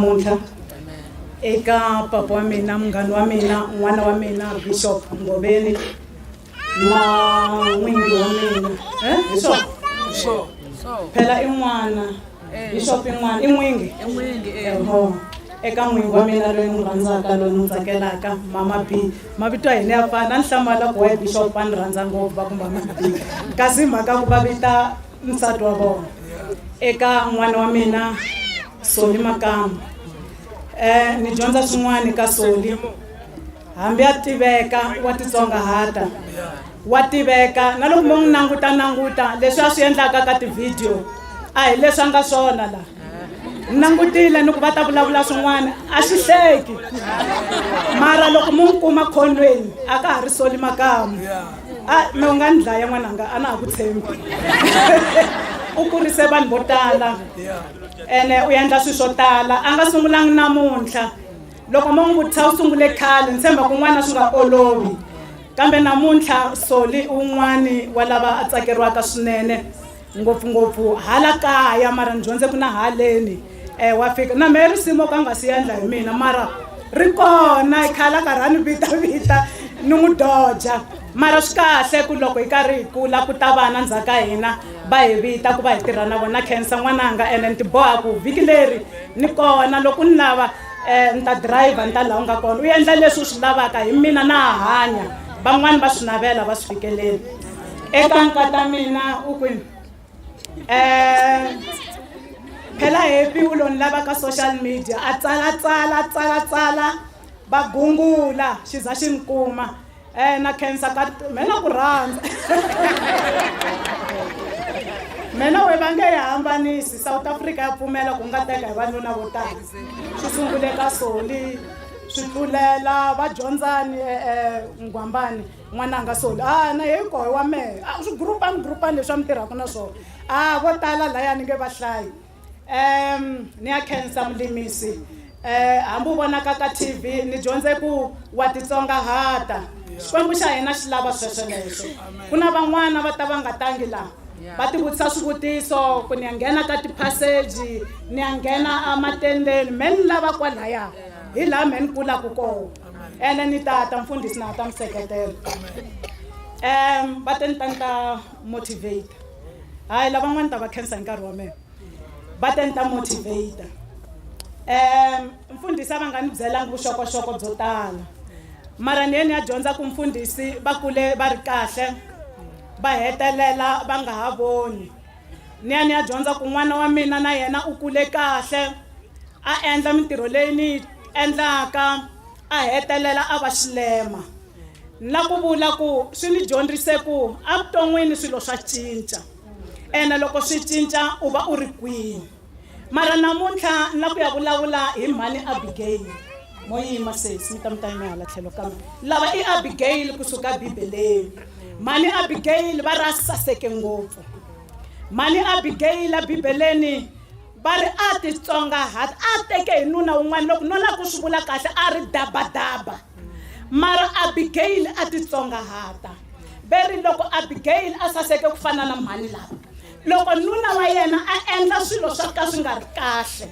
namuntlha eka papa wa mina munghana wa mina n'wana wa mina bishop ngoveni na n'wingi wa mina eh? bishop phela i n'wana bishop in'wana i n'wingi eho eka n'wingi wa mina loyi n'wi rhandzaka loyi ni n'wi tsakelaka mama b mavito ya hina ya fana a ni hlamala ku wa bishop a ni rhandza ngopfu va ku mama b kasi mhaka ku va vita nsati wa vona eka n'wana wa mina soli makamu um ni dyondza swin'wana ka soli Hambi a tiveka wa titsongahata, wa tiveka na loko mo n'wi nanguta nanguta leswi a swi endlaka ka tivhidiyo a hi leswi a nga swona laha ni langutile ni ku va ta vulavula swin'wana a xi hleki mara loko mu n'wi kuma khonweni a ka ha ri soli makamu a mi u nga ni dlaya n'wananga a na ha ku tshembi u kurise vanhu vo tala ene u endla swilo swo tala a nga sungulangi namuntlha loko mo n'wi vutisa u sungule khale ni tshemba kun'wana swi nga olovi kambe namuntlha soli un'wani wa lava a tsakeriwaka swinene ngopfungopfu hala kaya mara ni dyondze ku na haleni um wa fika na mehe risimu ka nga si yendla hi mina mara ri kona i khala karhi a ni vitavita ni n'wi doja mara swi kahle ku loko hi karhi hi kula ku ta vana ndzhaku ka hina va hi vita ku va hi tirha na vona khensa n'wananga ene ni tiboha ku vhiki leri ni kona loko ni lava um ni ta dirayivha ni ta laha u nga kona u endla leswi u swi lavaka hi mina na ha hanya van'wani va swi navela va swi fikeleli eka nkata mina u kwini um phela happy u lo ni lava ka social media a tsala tsala tsala tsala va gungula xi za xi ni kuma Eh na khensa ka me na ku rhandza me na we va nge yi hambanisi south africa ya pfumela ku nga teka hi vanuna vo tala swi sungule ka soli swi tlulela va dyondzani um nghwambani n'wananga soli a na hi koho wa mehe swi gurupani gurupani leswi a mi tirhaka na swona a vo tala layani nge va hlayi um ni ya khensa mulimisi um hambi u vonaka ka tv ni dyondze ku wa titsongahata xikwembu xa hina xi lava swesweleswo ku na van'wana va ta va nga tangi laha va tivutisa swivutiso ku ni ya nghena ka tiphaseji ni ya nghena ematendeni me ni lava kwalaya hi laha me ni kulaka kona ene ni ta ta mfundhisi na ta mi seketela um va te ni ta ni ta motivate hayi lavan'wana ni ta va khensa hi nkarhi wa mina va te ni ta motivate um mfundhisi a va nga ni byelanga vuxokoxoko byo tala mara ni ye ni ya dyondza ku mfundhisi va kule va ri kahle va hetelela va nga ha voni ni ya ni ya dyondza ku n'wana wa mina na yena u kule kahle a endla mintirho leyi ni yi endlaka a hetelela a va xilema ni la ku vula ku swi ni dyondzise ku evuton'wini swilo swa cinca ene loko swi cinca u va u ri kwini mara namuntlha ni la ku ya vulavula hi mhani abigeyili mo yima sesi mi ta mi ta yima hala tlhelo kambe lava i abigeyili kusuka bibeleni mhani abigeyili va ra saseke ngopfu mhani abigeyila bibeleni Va ri, A titsongahat, a a teke hi nuna wun'wana, loko no lava ku swi vula kahle, a ri dabadaba. Mara Abigeyili a titsongahata. Ve ri loko Abigeyili a saseke ku fana na mhani lava, loko nuna wa yena a endla swilo swa ka swi nga ri kahle,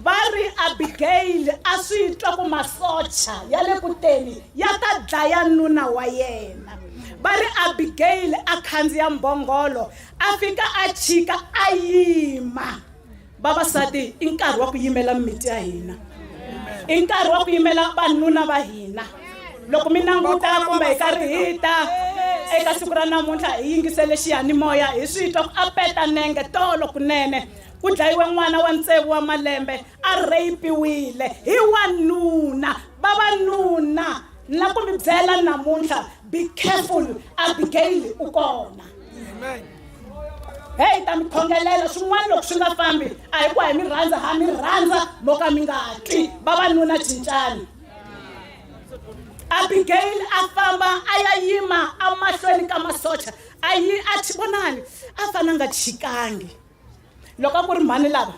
va ri Abigeyili a swi twa ku masocha ya le kuteni ya ta dlaya nuna wa yena. Va ri Abigeyili a khandziya mbhongolo, a fika a chika a yima vavasati i nkarhi wa ku yimela mimiti ya hina i nkarhi wa ku yimela vanuna va hina loko mi languta kumbe hi karhi hi ta eka siku ra namuntlha hi yingisele xiyanimoya hi swi twa ku a peta nenge tolo kunene ku dlayiwe n'wana wa ntsevu wa malembe a rheyipiwile hi wanuna vavanuna ni la ku mi byela namuntlha be careful abigail u kona heyi hi ta mi khongelela swin'wana loko swi nga fambi a hi ku hi mi rhandza ha mi rhandza mo ka mi nga twi vavanuna cincani abigail a famba a ya yima emahlweni ka masocha a yi a vonani a fana nga chikangi loko a ku ri mhani lava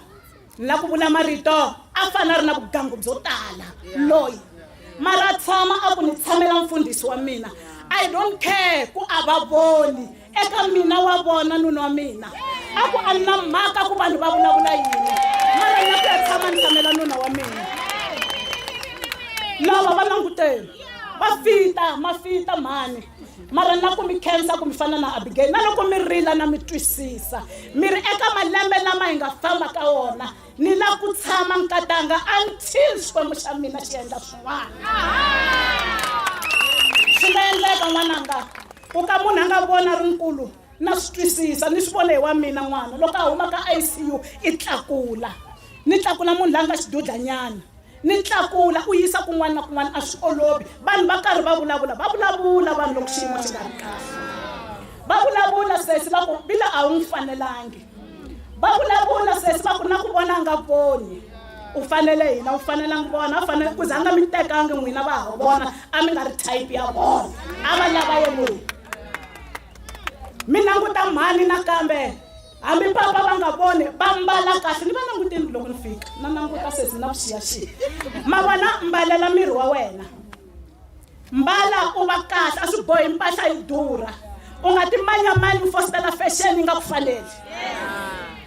na ku vula marito a fana a ri na vugangu byo tala loyi mara tshama a ku ni tshamela mfundhisi wa mina i don't care ku a va voni eka mina wa vona nuna wa mina a ku a na mhaka ku vanhu va vulavula yini mara na ku ya tshama ni tshamela nuna wa mina lava va languteni va fita mafita mhani mara na ku mi khensa ku mi fana na abigayili na loko mi rila na mi twisisa mi ri eka malembe lama hi nga famba ka wona ni la ku tshama nkatanga until xikwembu xa mina xi endla swin'wana swi nga endleka n'wananga u ka munhu a nga vona ri nkulu na swi twisisa ni swi vona hi wa mina n'wana loko a huma ka icu i tlakula ni tlakula munhu la nga xidudlanyana ni tlakula u yisa kun'wana na kun'wana a swi olovi vanhu va karhi va vulavula va vulavula vanhu loko xiyimo xi nga ri kahle va vulavula sesi va ku vila a wu n'wi fanelangi va vulavula sesi va ku na ku vona nga voni u fanele hina u fanelangi vona a fanele ku za nga mi tekangi n'wina va ha vona a mi nga ri type ya vona a va lava yelweni mi languta mhani nakambe hambi papa va nga voni va mbala kahle ni va languteni loko ni fika na languta sesi na vuxiyaxiya ma vona mbalela miri wa wena mbala u va kahle a swi bohi mpahla yi durha u nga timanyamani u fositela fashion yi nga ku faneli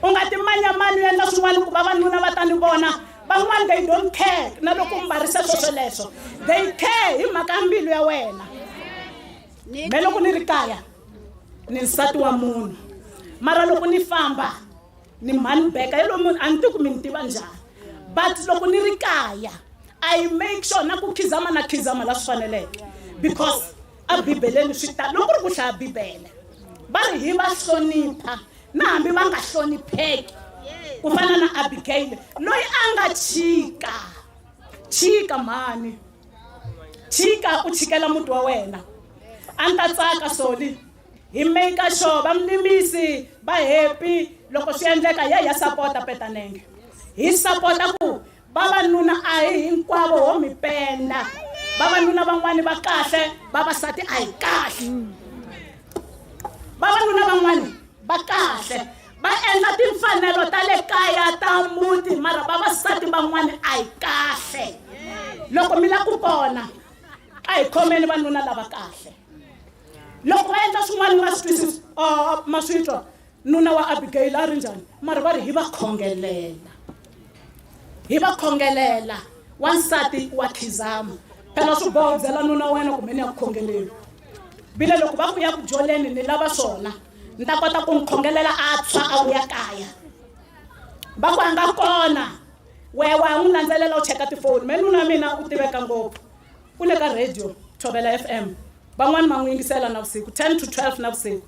u nga timanyamani u endla swin'wana ku vavanuna va ta ni vona van'wana they don't care na loko u mbarisa swosweleswo they care hi mhaka mbilu ya wena me loko ni ri kaya ni nsati wa munhu mara loko ni famba ni mhani beka hi lomu a ni ti ku mi ni tiva njhani but loko ni ri kaya i make sure na ku khizama na khizama la swi faneleke because a bibeleni swi ta loko ri ku hlaya bibele va ri hi va hlonipha na hambi va nga hlonipheki ku fana na abigaile loyi a nga chika chika mhani chika u chikela muti wa wena a ni ta tsaka soli hi maker sure vamlimisi va happy loko swi endleka ya ya sapota petanenge hi sapota ku vavanuna a hi hinkwavo ho mi penda vavanuna van'wani va kahle vavasati a hi kahle vavanuna van'wani va kahle va endla timfanelo ta le kaya ta muti mara vavasati van'wana a hi kahle loko mi la ku pona a hi khomeni vanuna lava kahle loko va endla swin'wana va swi twisisa uh, ma swi twa nuna wa abigayila a ri njhani mara va ri hi va khongelela hi va khongelela wansati wa khizama phela swi boho byela nuna wena kumbe ni ya ku khongeleni vile loko va ku ya ku dyoleni ni lava swona ni ta kota ku n'wi khongelela a tshwa a vuya kaya va ku a nga kona wehe wa n'wi landzelela u cheka tifoni me nuna mina u tiveka ngopfu u le ka radio thobela f m van'wani va n'wi yingisela na vusiku ten to twelve na vusiku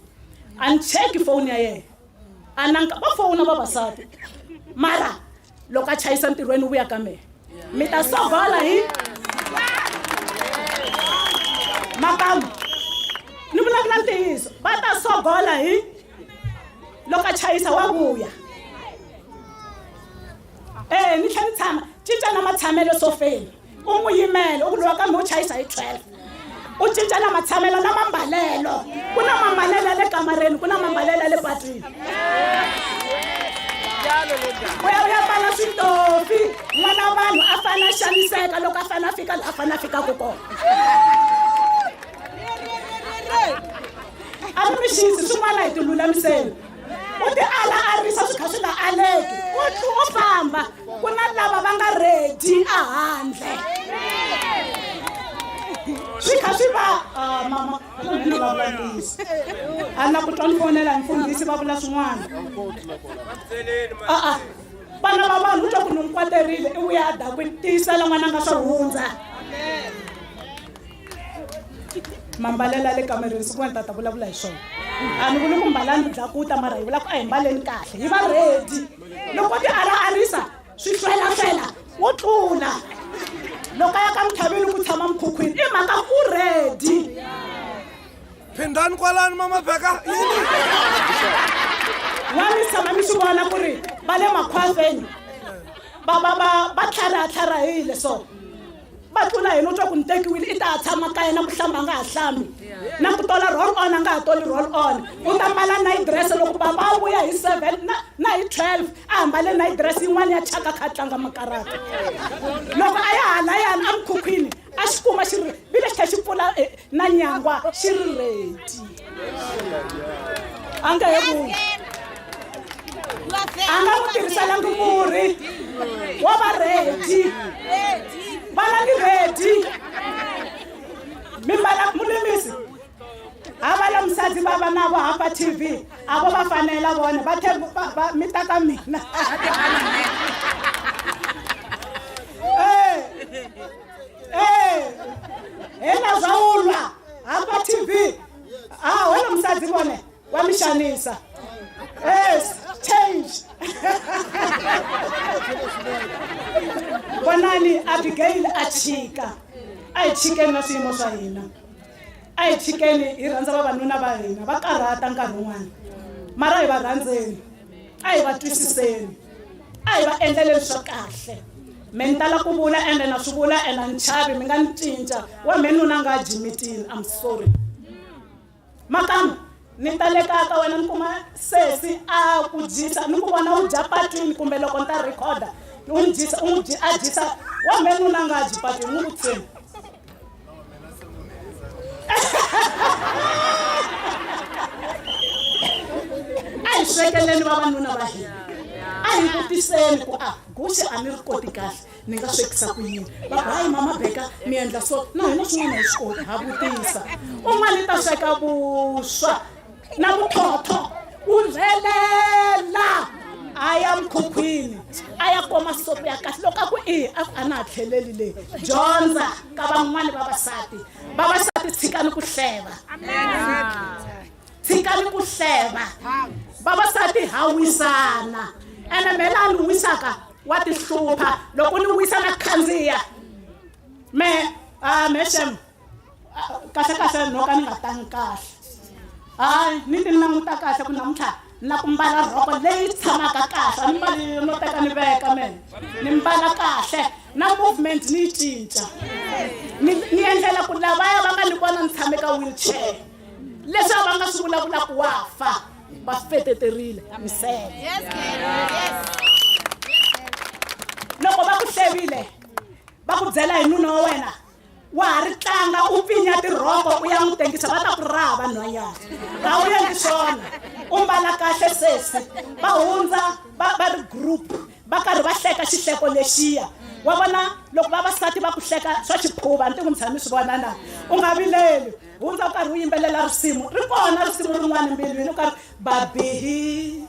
a ni cheki foni ya yena a nanka va fona vavasati mara loko a chayisa ntirhweni u vuya ka mehe mi ta sogola hi makamu ni vulavula ntiyiso va ta sogola hi loko a chayisa wa vuya e ni tlhe ni tshama cinca na matshamelo sofeni u n'wi yimele u ku lowa kambe u chayisa hi 12 u cinca na matshamelo na mambalelo ku na mambalelo ya le kamareni ku na mambalelo ya le patwini u ya u ya pfala switofi n'wana vanhu a fane a xaniseka loko a fane a fika la a fane a fikaka kona a mi mi xisi swin'wana hi tilulamiseni u ti alaarisa swi kha swi nga aleki u tlhela u famba ku na lava va nga redi ehandle swi kha swi va ah, mama ni va vulavurisi a na ku twa ni fonela mfundhisi va vula swin'wana a-a vana va vanhu u twa ku ni n'wi kwaterile i vuya adakwini tiyisela n'wana nga swo hundza mambalela le kamereni siku wena tata vulavula hi swona a ni vuli ku mbalani byakuta mara hi vula ku a hi mbaleni kahle hi va redi loko ti ara arisa swi hlwelahlwela wo tlula loko a ya ka muthaveni ku tshama mukhukhwini i mhaka ku redi phindani kwalani mamabheka wa mi tshama mi swi vona ku ri va le makhwaseni va va va va tlharatlharahile so va tlula hina u twa ku ni tekiwile i ta ha tshama kaya na ku hlamba nga ha hlambi na ku tola roll on a nga ha toli roll on u ta mbala night dress loko baba a vuya hi seven na, na hi twelve a hambale night dress yin'wana ya chaka kha a tlanga makarata loko a ya hala yana emukhukhwini a xi kuma xi ri vile xi kha xi pfula eh, na nyangwa xi ri redi a nga he vuyi a nga n'wi tirhiselangi murhi wa va redi va langi redi mimbala mulimisi ha va la musadzi va va navo hamba tv a vo va fanela vona va tlhe mi ta ka mina ee hela zwa u lwa hafha tv a hona musadzi vhone wa mi shanisa yes change vonani abigail a chika a hi chikeni na swiyimo swa hina a hi chikeni hi rhandza vavanuna va hina va karhata nkarhi wun'wana mara hi va rhandzeni a hi va twisiseni a hi va endlele leswa kahle mi ni tala ku vula ende na swi vula ende a ni chavi mi nga ni cinca wa me nuna nga jimitini am sorry makamu ni talekaka wena ni kuma sesi a ku dyisa ni ku vona u dya patwini kumbe loko ni ta rhekhoda u ni dyisa u n'wi a dyisa wa me nuna nga dyi patwini n'wi ku tshembi a hi swekeleni vavanuna va hina a hi vutiseni ku a guxe a ni ri koti kahle ni nga swekisa ku yini va ku hayi mama beka mi endla so na hina swin'wana hi swi koti ha vutisa un'wana i ta sweka vuswa na vutlhotlho u rhelela a ya mukhukhwini a ya kuma sopo ya kahle loko a ku i a ku a na ha tlheleli leyi dyondza ka van'wani vavasati vavasati tshikani ku hleva tshikani ku hleva vavasati ha wisana ene mhela a ni wisaka wa tihlupha loko ni wisa na khandziya me uh, ah, meshem Ah, kahle kahle no ka ni nga tangi kahle hayi ni ti languta kahle ku namuntlha na ku mbala rhoko leyi tshamaka kahle a ni mbali no teka ni veka mene ni mbala kahle na movement ni yi cinca ni ni endlela ku lavaya va nga ni vona ni tshame ka wheelchair leswi va nga swi vulavula ku wa fa va swi feteterile misele loko va ku hlevile va ku byela hi nuna wa wena wa ha ri tlanga u pfinya tirhoko u ya n'wi tengisa va ta ku raha vanhwanyana a wu endli swona u mbala kahle sesi va hundza va va ri group va karhi va hleka xihleko lexiya wa vona loko vavasati va ku hleka swa xiphuva ni ti n'wi tshami swi vona na u nga vileli hundza u karhi u yimbelela risimu ri kona risimu rin'wana mbilwini u karhi babihi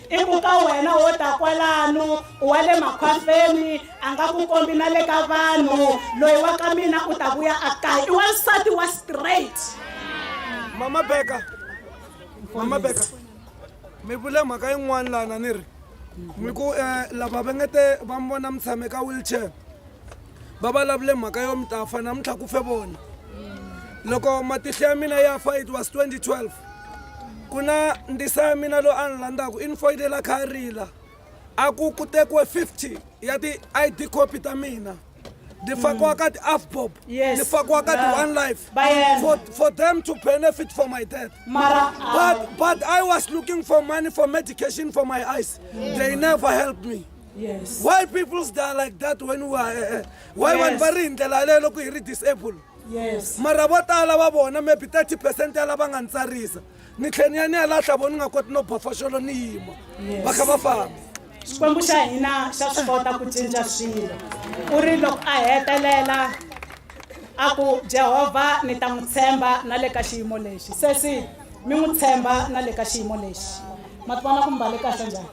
i ku ka wena wo ta kwalano wa le makhwapeni a nga ku kombi na le ka vanhu loyi wa ka mina u ta vuya a kaya i wansati wa straight mama beka mama beka mi vule mhaka yin'wana lana ni ri mi ku um lava va nge te va mi vona mi tshame ka wheelchair va vulavule mhaka yo mi ta fa namuntlha ku fe vona loko matihlo ya mina ya fa it was 2012 ku na ndisa ya mina loyi a ni landzaka i ni foyinela kha rila a ku ku tekiwe 50 ya ti-i d copy ta mina ni fakiwa ka ti-afbob Yes. ni fakiwa ka ti-one life Bayern. for, for them to benefit for my death mara but, but i was looking for money for medication for my eyes they never helped me Yes. Why people's die like that when we are eh, eh, why yes. vanhu va ri hi ndlela yaleyo loko hi ri disable? Yes. Mara vo tala va vona maybe 30% ya lava nga ntsarisa. Ni tlhe ni ya ni ya lahla vona nga koti no bafaxolo ni yima. Va kha va famba. Xikwembu xa hina xa swi kota ku cinca swilo. U ri loko a hetelela a ku Jehovha ni ta n'wi tshemba na le ka xiyimo lexi. Sesi mi n'wi tshemba na le ka xiyimo lexi. Ma tivona ku mbale kahle njhani?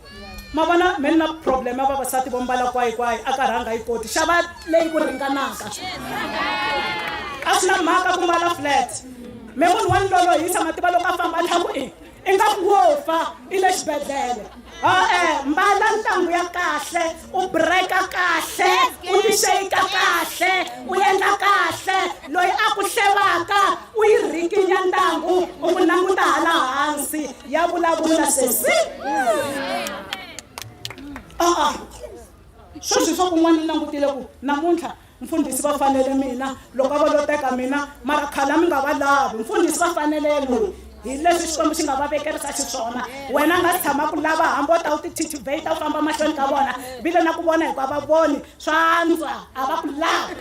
ma vona me ni na problem ya vavasati vo mbala kwayikwayi a ka rhanga yi koti xava leyi ku ringanaka a swi na mhaka ku mbala flat me munhu wa ndlolo hi tshama tiva loko a famba tlhaku i i nga ku wo fa i le xibedhlele e-e mbala ntangu ya kahle u breka kahle u tixeyika kahle u endla kahle loyi a ku hlevaka u yi rhikinya ntangu u ku languta hala hansi ya vulavula sesi a-a sweswi swa kun'wana ni langutile ku namuntlha Mfundhisi va fanele mina, loko a va lo teka mina, mara khale a mi nga va lavi. Mfundhisi va fanele loyi. Hi leswi Xikwembu xi nga va vekerisa xiswona. Wena nga si tshama ku lava hambi u ta u ti titubate u famba mahlweni ka vona, vile na ku vona hikuva va voni swa antswa a va ku lavi.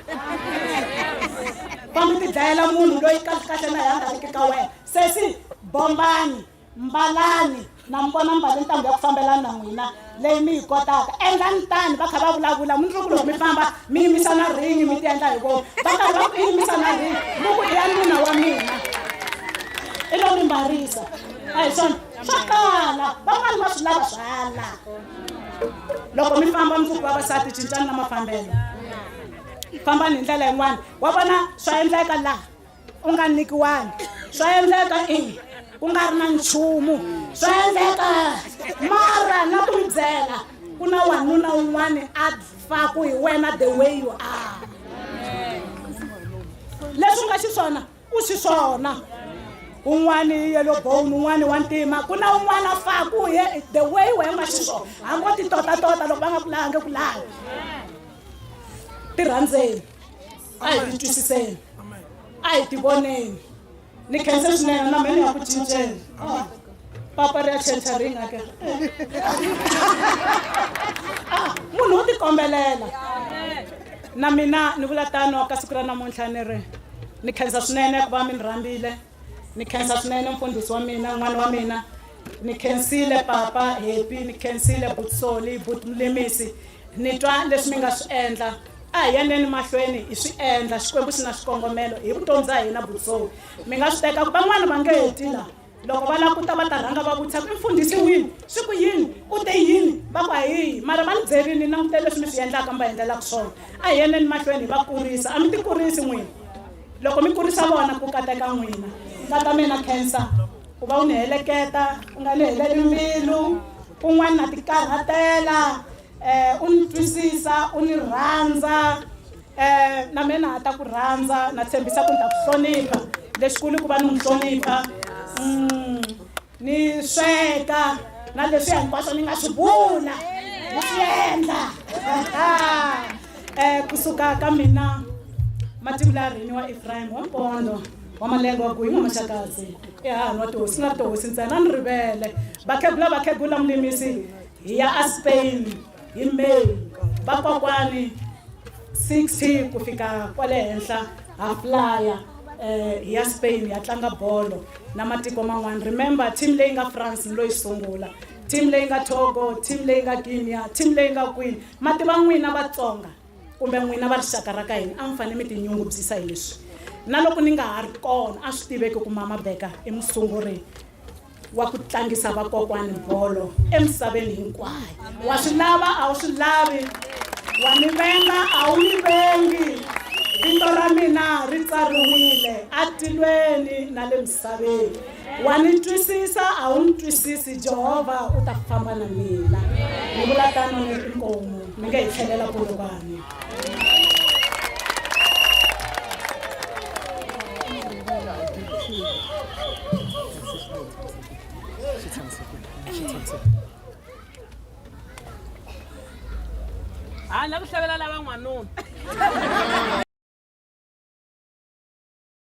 Famba u tidlayela munhu loyi kahlekahle na yena a nga riki ka wena. Sesi bombani. mbalani na mi vona mbale ntambu ya ku fambelana na n'wina leyi mi yi kotaka endlani tani va kha va vulavula mi loko loko mi famba mi yimisa na ringi mi ti endla hi vona va karhi va ku yimisa na ringi mi ku i ya nuna wa mina i lo mi mbarisa a hi swona swa kala van'wani va swi lava swala loko mi famba mi ku vavasati cincani na mafambelo fambani hi ndlela yin'wana wa vona swa endleka laha u nga nikiwangi swa endleka i ku nga ri na nchumu swa endleka mara na ku mi byela ku na wanuna un'wana a faku hi wena the way you are leswi u nga xiswona u xiswona un'wana i yellow bone un'wana wa ntima ku na un'wana a faku hi the way wena u nga xiswona hambi o titotatota loko va nga ku lange ku lange ti rhandzeni a hi ti twisiseni a hi ti voneni ni khense swinene na mina ya ku cinceni ah, papa ri ya chancha ri nga ke ah, munhu u tikombelela na mina ni vula tano ka siku ra namuntlha ni ri ni khensa swinene ku va mi ni rhambile ni khensa swinene mfundhisi wa mina n'wana wa mina ni khensile papa happy ni khensile but soli but mulemisi ni twa leswi mi nga swi endla a hi yaneni mahlweni hi swi endla xikwembu xi na xikongomelo hi vutomi bya hina but soli mi nga swi teka van'wana va nge heti la loko va languta va ta rhanga va vutisa ku i mfundhisi wini swi ku yini u te yini va ku hayihi mara va ni byerini ni langutele leswi mi swi endlaka mi va endlelaka swona a hi yaneni mahlweni hi va kurisa a mi ti kurisi n'wini loko mi kurisa vona ku kateka n'wina va ta mina cancer Ku va u ni heleketa, u nga ni heleli mbilu, kun'wana na tikarhatela, um u ni twisisa, u ni rhandza, um na mina ha ta ku rhandza, na tshembisa ku ni ta ku hlonipha. Lexikulu ku va ni n'wi hlonipha, mm, ni sweka na leswi hinkwaswo ni nga swi vula ni swi endla um kusuka ka mina mativula rini wa efrayim wa nkondo wamalenga wa ku hi n'wamaxakadzi i hahanwa tihosi nga tihosi ntsena ni rivele vakhegula vakhegula mulimisi hi ya a spain hi may vakwakwani 60 ku fika kwale henhla ha flya um eh, hi ya spain hi ya tlanga bolo na matiko man'wana remember team leyi nga france ni loyi sungula team leyi nga togo team leyi nga guinea team leyi nga kwini mati va n'wina vatsonga kumbe n'wina va rixaka ra ka hina a mi fanele mi tinyungubyisa hi leswi na loko ni nga ha ri kona a swi tiveki ku mama beka i musunguri wa ku tlangisa vakokwani bolo emisaveni hinkwayo wa swi lava a wu swi lavi wa ni venga a wu ni vengi vito ra mina ri tsariwile atilweni na le misaveni wa ni twisisa a wu ni twisisi jehovha u ta famba na mina ni vula tano ni ri nkomu mi nga hi tlhelela polokwane ha na ku hlavelela van'wanuna